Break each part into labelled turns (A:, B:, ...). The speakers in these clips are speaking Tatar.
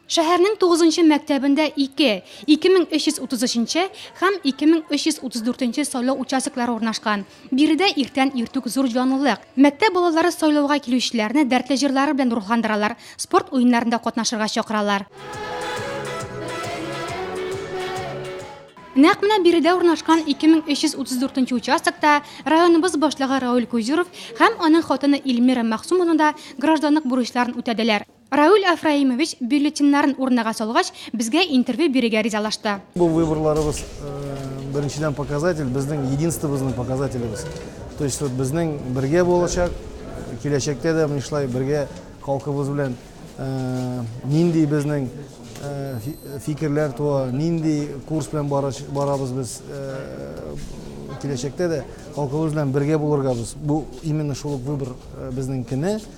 A: Шәһәрнең тугызынчы мәктәбендә ике, 2333 һәм 2334 сайлау участоклары урнашкан. Биредә иртән иртүк зур җанлылык. Мәктәп балалары сайлауга килүчеләрне дәртле җырлары белән рухландыралар, спорт уеннарында катнашырга чакыралар. Нәкъ менә биредә урнашкан 2334 участокта районыбыз башлыгы Рауль Кузюров һәм аның хатыны Ильмира Мәхсумовна да гражданлык бурычларын үтәделәр. Рауль Афраимович бюллетеньнарын урынага салгач, безгә интервью бирергә ризалашты. Бу выборларыбыз
B: беренчедән показатель, безнең единствобызның показателебез. То есть вот безнең бергә булачак, киләчәктә дә менә шулай бергә халкыбыз белән нинди безнең фикерләр туа, нинди курс белән барабыз без киләчәктә дә халкыбыз белән бергә булырга без. Бу именно шул ук выбор безнең кенә.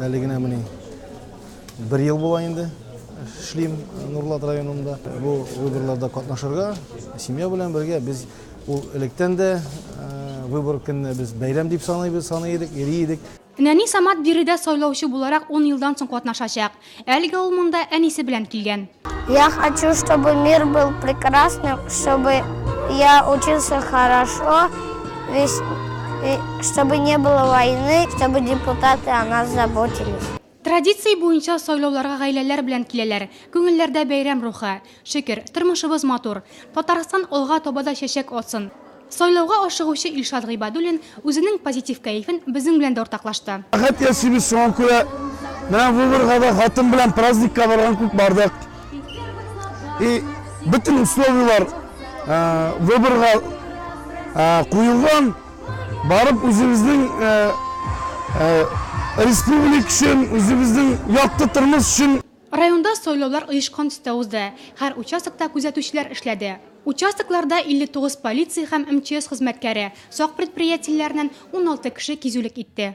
B: Әле генә менә бер ел була инде эшлим Нурлат районында. Бу выборларда катнашырга, семья белән бергә без ул электән дә выбор көнне без бәйрәм дип саныйбыз, саный идек, йөри идек. Нәни Самат
A: биредә сайлаучы буларак ун елдан соң катнашачак. Әлегә ул монда әнисе белән килгән. Я хочу,
C: чтобы мир был прекрасным, чтобы я учился хорошо, весь, и чтобы не было войны, чтобы депутаты о нас заботились. Традиция
A: буенча сайлауларга гаиләләр белән киләләр. Күңелләрдә бәйрәм рухы. Шөкер, тормышыбыз матур. Татарстан алга таба да чәчәк атсын! Сайлауга ашыгучы Илшат Гыйбадуллин үзенең позитив кәефен безнең белән дә уртаклашты. Рәхәт яшибез, шуңа
D: күрә менә выборга да хатын белән праздникка барган күк бардык. И бөтен условияләр выборга куелган. Барып үзебезнең республик өчен, үзебезнең якты тормыш өчен. Районда сайлаулар
A: оешкан төстә узды, һәр участокта күзәтүчеләр эшләде. Участокларда 59 полиция һәм МЧС хезмәткәре, сак предприятиеләреннән 16 кеше кизүлек итте.